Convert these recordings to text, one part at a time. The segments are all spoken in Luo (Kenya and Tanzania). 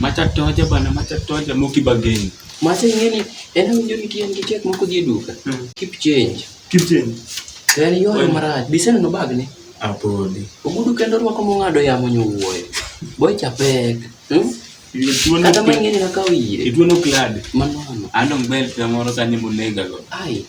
Macha toja bana, macha toja moki bageni. Macha ngeni, ena winjo ni kiyan gi chek moko dhi duka. Hmm. Keep change. Keep change. Ber yoyo marach. Biseno no bag ni. Apodi. Ogudu kendo rwako mong'ado yamo nyowuoyo. Boy chapek. Hmm? Kata mang'eni nakawo ire. Ituono klad. Manono. Andong bel pia moro sani monega go. Ai.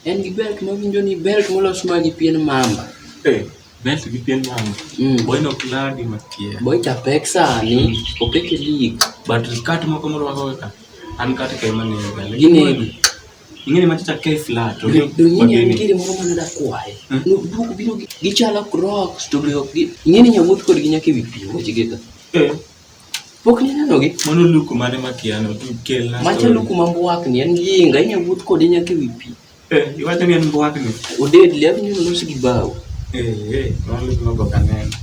En gi belt mawinjo ni belt molos ma gi pien mamba. Eh, belt gi pien mamba. Mm. Boy no kladi makia. Boy cha pek sani, mm. opek e league. But kat moko morwako ka. An kat ke mane ga. Gine. Ingene ma cha ke flat. Do nyinyi en kiri moro mana da kwae. Mm. No duk biro gichalo crocs to be ok gi. Ingene nyawuot kod gi nyaka e wi pi weche geta. Eh. Pok ninenogi? Mano luku mane makiano kelna. Macha luku ma mbwakni en yinga inya wuoth kode nyaka ewi pi. Eh, iwacho ni en mbwakni. Oded le abinyo los gi bao. Eh, eh, mano luku ma boka neno.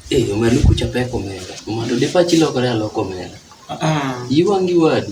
Eh, ma luku cha pek omenda. Mondo dipachi lokore aloko omenda. Ah, ah. Iwangi wadu.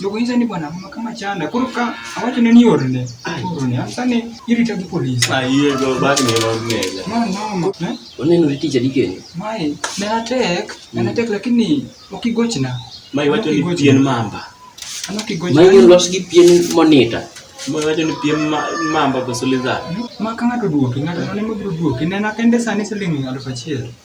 Jogo nyisa ni bwana mama kama chanda. Koro ka awacho ne ni orne. Orne. Asa ne irita gi polis. Ah, iye go bag ni lo nega. No, no. Eh? Oneno ni tija dikeni. Mai, ne atek, ne atek mm. lakini okigochna. Mai wacho ni pien mamba. Ano kigochna. Mai gin los gi pien monita. Mai wacho ni pien mamba koso lizard. Ma ka ng'ato duoki, ng'ato ne mobiro duoki. Nena kende sani siling' aluf achiel.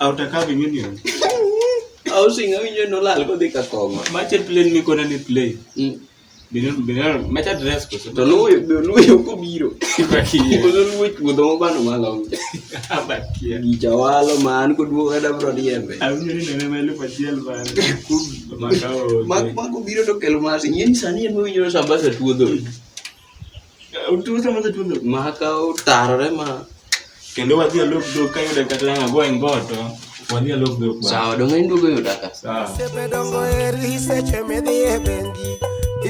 Outer curving union. Housing awinjo nolal kodhi ka kong'o. Mache plain mikona ni plain. Mm. Bino bino macha dress koso. To luyo be luyo kobiro. Bakie. Koso luyo chuodho mobano malong. Bakie. Gicha walo man koduogo kata bro diembe. Awinjo ni nene melu pachiel man. Kum makao. Mak mak obiro to kelo mas. Nyeni sani en mowinjo sambasa chuodho. makawo tarore ma kendo wadhi alok dok ka yuda kata ang' ago e ngoto wadhi alok dok sawa donge in duogo yuda ka sepe dongo eri seche midhi e bengi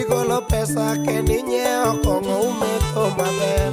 igolo pesa kendo inyiewo kong'o umetho maber